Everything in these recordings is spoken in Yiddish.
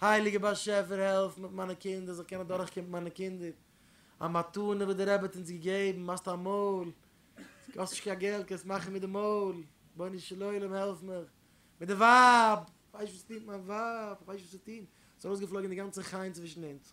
הייליגער באשעפער העלף מיט מיינע קינדער זאל קענען דורכקומען מיט מיינע קינדער, א מתנה וואס די רבי האט אונז געגעבן, מאכסט א מויל, האסט נישט קיין געלט קענסט מאכן מיט די מויל, רבונו של עולם העלף מיך, מיט די ווייב, כ'ווייס נישט וואס צו טון מיט מיין ווייב, כ'ווייס נישט וואס צו טון, ס'איז ארויסגעפלויגען די גאנצע חן צווישן אונז.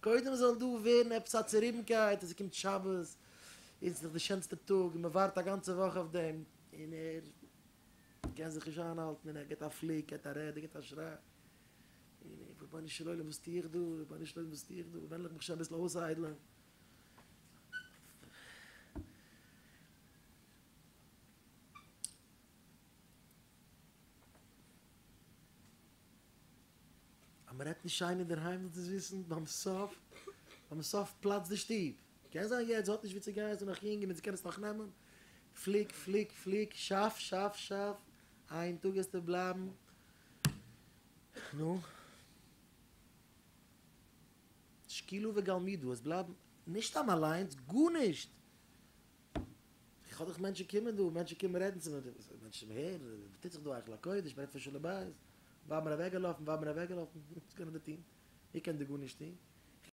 קודם זאל דא ווערן עפעס א צוריבנקייט אז ס'קומט שבת און ס'איז דאך די שענסטע טאג און מ'ווארט א גאנצע וואך אויף דעם און ער קען זיך נישט איינהאלטן און ער געט א פליק, געט א רעד, ער געט א שריי און רבונו של עולם וואס טו איך דא, רבונו של עולם וואס טו איך דא, וועל'ך מיך שוין אביסל אויסאיידלען. אז מען רעדט נישט שיין אינדערהיים זאלסט עס וויסן, ביים סוף, ביים סוף פלאצט די שטוב. קען זיין יעצט האט נישט ווי צו גיין זי איז נאך יונג און מען קען עס נאך נעמען, פליק פליק פליק, שאף שאף שאף, איין טאג וועסטו בלייבן, נו. שקילו וגלמידו, עס בלייבן, נישט סתם אליינס, גארנישט! איך האב דאך מענטשן קומען דא, מענטשן קומען רעדן צו מיר, מענטשן וואס הערן, וואס טוט זיך דא היכל הקודש, מ'רעדט פון שלום בית, ווייל מ'איז אוועקגעלאפן, ווייל מ'איז אוועקגעלאפן, וואס קען איך דא טון? איך קען דא גארנישט טון,